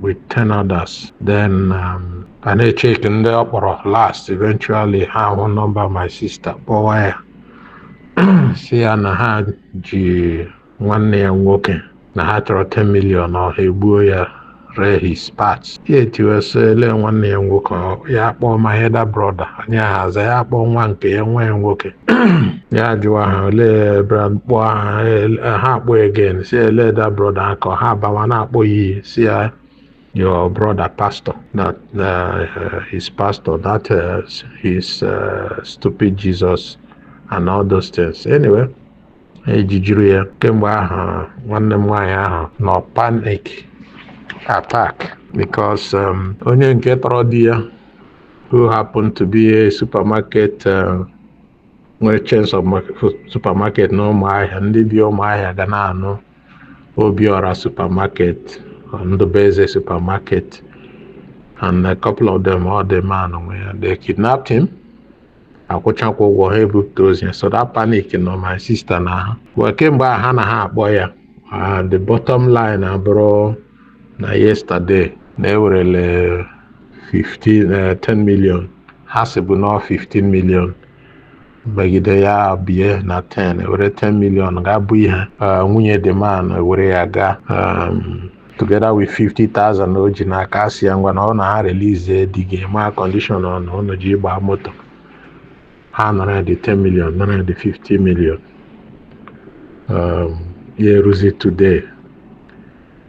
with 10 others. Then um, ha na-echeck ndị ọ kpọrọ last eventually ha hụ nọmba my sister kpọwa ya si ya na ha ji nwanne ya nwoke na ha chọrọ 10 million or ha egbuo ya ree his parts ya etiwe sị ele nwanne ya nwoke ọ- ya akpọọ my elder brother onye ahụ aza ya akpọọ nwa nke ya nwa ya nwoke ya ajụwa ha olee kpọọ aha ha akpọ again si elder brother akọ ha abawa na-akpọ ya iyi si ya your brother pastor that uh, his pastor that uh, his uh, stupid jesus and all those things anyway ejijiri ya kemgbe ahụ nwanne m nwaanyị ahụ nọ panic attack because um, onye nke tọrọ di ya who happened to be a supermarket uh, nwere chains of supermarket na ụmụahịa ndị bi ụmụahịa ga na-anụ obiọra supermarket ndụbeze supermarket and a couple of them ọ the man nwe ya they kidnapped him akwụchakwa ụgwọ ha ebupụta ozu ya so that panic nọ my sister n'ahụ well kemgbe a ha na ha akpọ ya the bottom line abụrụ na yesterday na ewerele 15 eh, 10 million ha sịbu na ọ 15 million megide ya bie na 10 ewere 10 million ga-abụ ihe Eh, nwunye the man ewere ya gaa um, together with 50,000 o ji n'aka asị ya ngwanụ na ha release di gị ma condition ọ nọ ụnụ ji gbaa moto ha nara ya the 10 million nara ya the 50 million um, ya eruzi today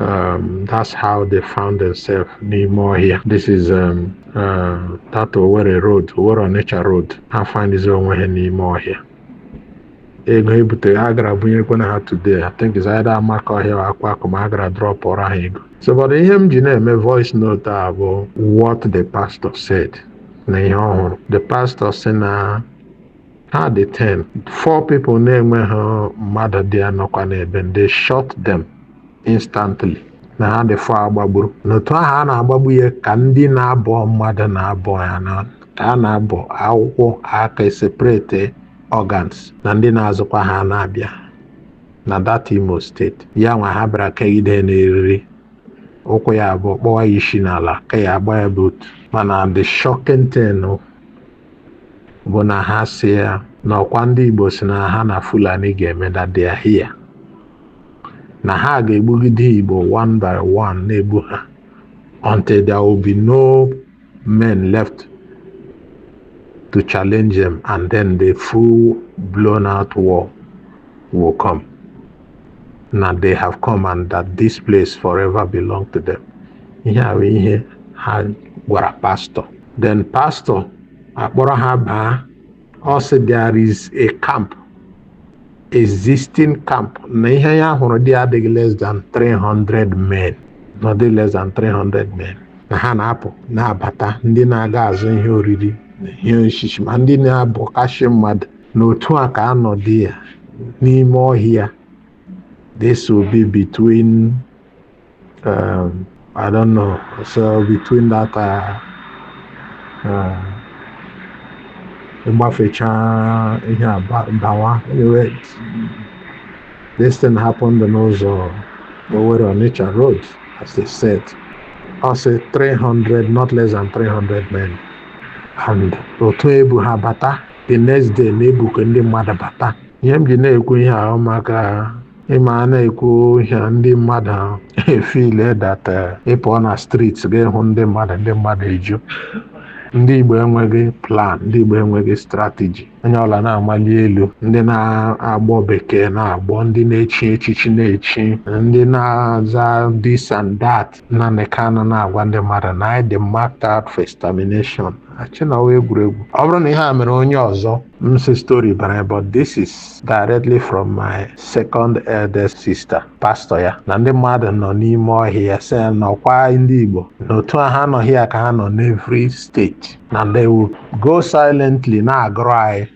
Um, that's how they found themselves n'ime ọhịa. This is um, uh, that Owerri road, Owerri Onitsha road. Ha findizi onwe ha n'ime ọhịa. Ego ebute ha gara bunyekwanụ ha today. I think is either Amakohia or Akwakuma ha gara dropụrụ ha ego. So but ihe m ji na-eme voice note a bụ what the pastor said na ihe ọ hụrụ. The pastor sị na ha dị 10 four people na-enweghị mmadụ dị anọkwa n'ebe m, they shot them instantly na ha dị four agbagburu n'otu ahụ a na-agbagbu ya ka ndị na-abọ mmadụ na-abọ ya na ka a na-abọ ọkụkọ ka eseparate organs na ndị na-azụkwa ha na-abịa na that Imo State ya nwa ha bịara kegide n'eriri ụkwụ ya abụọ kpọwa ya isi n'ala ka ya agba ya boot mana the shocking thing bụ na ha si ya na ọkwa ndị Igbo si na ha na Fulani ga-eme that they are here na ha ga-egbugide Igbo one by one na-egbu ha until there will be no men left to challenge them and then the full blown out war will come. na they have come and that this place forever belong to them ihe a bụ ihe ha gwara pastọ then pastọ akpọrọ ha baa ọ sị there is a camp existing camp na ihe ya hụrụ dị adịghị less than 300 men not less than 300 men na ha na-apụ na-abata ndị na-aga azụ ihe oriri na ihe osisi ma ndị na-abọkashị mmadụ na otu a ka anọdụ ya n'ime ọhịa this will be between um, I don't know so between that uh, uh, ịgbafecha ihe a ba- bawa anyway this thing happened n'ụzọ Owerri Onitsha road as they said ọ sị 300 not less than 300 men and otu ebu ha bata the next day na-ebukọ ndị mmadụ bata ihe m ji na-ekwu ihe ahụ maka ị ma a na-ekwu ihe ndị mmadụ efeel that ị pụọ na street ga-ehụ ndị mmadụ ndị mmadụ eju ndị igbo enweghị plan ndị igbo enweghị strategy onye ọla na-amali elu ndị na-agbọ bekee na-agbọ ndị na-echi echichi na-echi ndị na-aza this and that Nnamdi Kanu na-agwa ndị mmadụ na anyị dị marked out for extermination achịnawa egwuregwu ọ bụrụ na ihe a mere onye ọzọ m sị story bara but this is directly from my second eldest sister pastọ ya na ndị mmadụ nọ n'ime ọhịa sị na ọkwa ndị Igbo na otu a ha nọ here ka ha nọ n'every steeti na they will go silently na-agụrụ anyị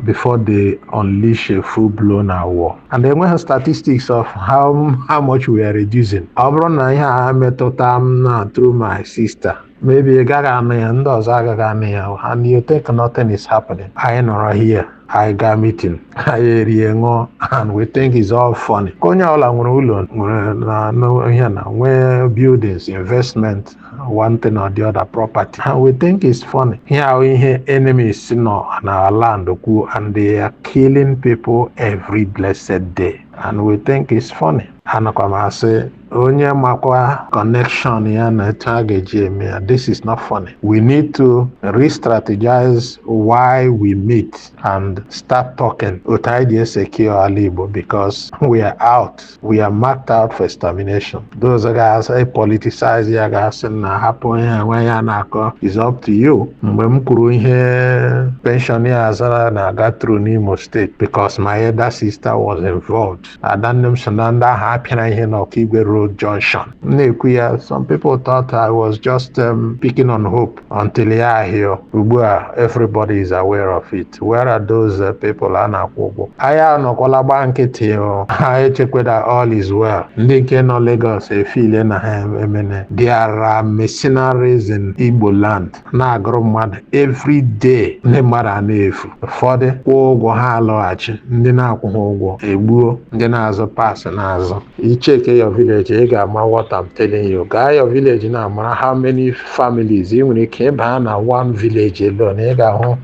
before they unleash a full-blown war. And enweghị statistics of how, how much we are reducing. Ọ bụrụ na ihe a metụta m na through my sister, maybe ị gaghị anụ ya, ndị ọzọ agaghị anụ ya, and you think nothing is happening. Anyị nọrọ here, anyị gaa meeting, anyị erie ṅụọ, and we think it's all funny. Onye ọbụla nwere ụlọ nwere ihe na nwee buildings, investment, one thing or the other property and we think it's funny here are ihe enemies nọ na our land okwu and they are killing people every blessed day and we think it's funny anakwa m asị onye makwa connection ya na etu a ga-eji eme ya this is not funny we need to re-strategize why we meet and start talking otu anyị ga-esecure ala igbo because we are out we are marked out for extermination those ga-epoliticize ya ga-asị na hapụ ihe nwanyị a na-akọ is up to you mgbe m kwuru ihe pensioners are na-aga through n'imo steeti because my elder sister was involved ada nne m so na ndị ahụ a pịara ihe na okigwe road junction m na-ekwu ya some people thought i was just um, picking on hope until ya ahịọ ugbu a everybody is aware of it where are those uh, people a na-akwụ ụgwọ anyị anọkwala gbaa nkịtị o. ha echekwe that all is well ndị nke nọ Lagos efeel na ha emene there are mercenaries in Igbo land na-agụrụ mmadụ every day ndị mmadụ a na-efu ụfọdụ kwụọ ụgwọ ha alọghachi ndị na-akwụghị ụgwọ e gbuo ndị na-azụ parts na-azụ ị checkie your village ị ga-ama what I'm telling you gaa your village now mara how many families ị nwere ike ịba na one village alone ị ga-ahụ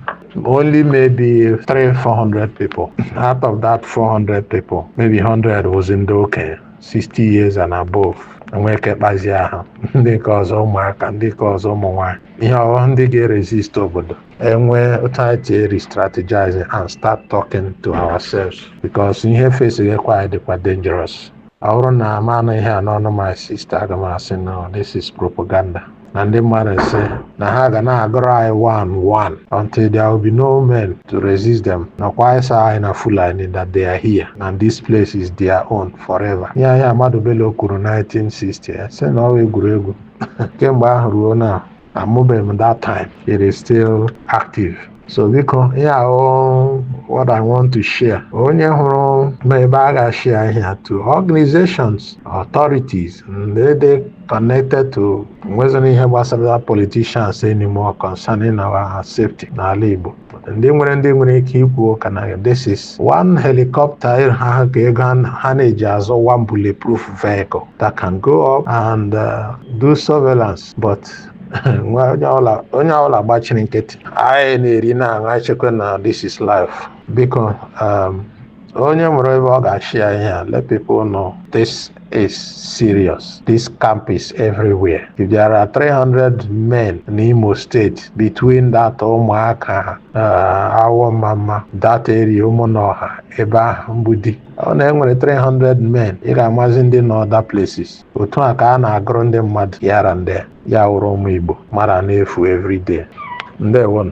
only maybe 3 400 people out of that 400 people maybe 100 wụzi ndị okenye 60 years and above enwee ike kpazie ha ndị nke ọzọ ụmụaka ndị nke ọzọ ụmụ nwanyị ị hụghị ndị ga-eresist obodo and we ought to start restrategizing and start talking to ourselves because ihe facegekwa anyị dịkwa dangerous ọ wụrụ na m anụ ihe a n'ọnụ my sister aga m asị no this is propaganda na ndị mmadụ sị na ha ga na-agụrụ anyị one one until there will be no men to resist them nakwa ịsa anyị na fulani that they are here and this place is their own forever ihe ihe Ahmadu Bello kwuru 1960 sị na ọ wụ egwuregwu kemgbe ahụ ruo now amụbeghị m that time it is still active so biko ihe a wụ what i want to share onye hụrụ ma ebe a ga-ashare ihe a to organizations authorities ndị dị connected to nwezina ihe gbasara politicians anymore concerning our safety n'ala igbo ndị nwere ndị nwere ike ikwu ụka na this is one helicopter ha ha ka ego ha- ha na-eji azụ one bulletproof vehicle that can go up and uh, do surveillance but nwa onye ọbụla onye ọbụla gbachiri nkịtị anyị na-eri na-aṅụ anyị echekwa na this is life biko um, Onye nwere ebe ọ ga-ashare ihe a let people know this is serious. This camp is everywhere. If there are 300 men in Imo State between that Ụmụaka uh, Awọ Ọmamma that area Ụmụnọha ebe ahụ Mgbidi ọ na e nwere 300 men ị ga-amazi ndị nọ other places otu a ka a na-agụrụ ndị mmadụ yara ndị ya wụrụ ụmụ Igbo mmadụ a na-efu everyday ndewonu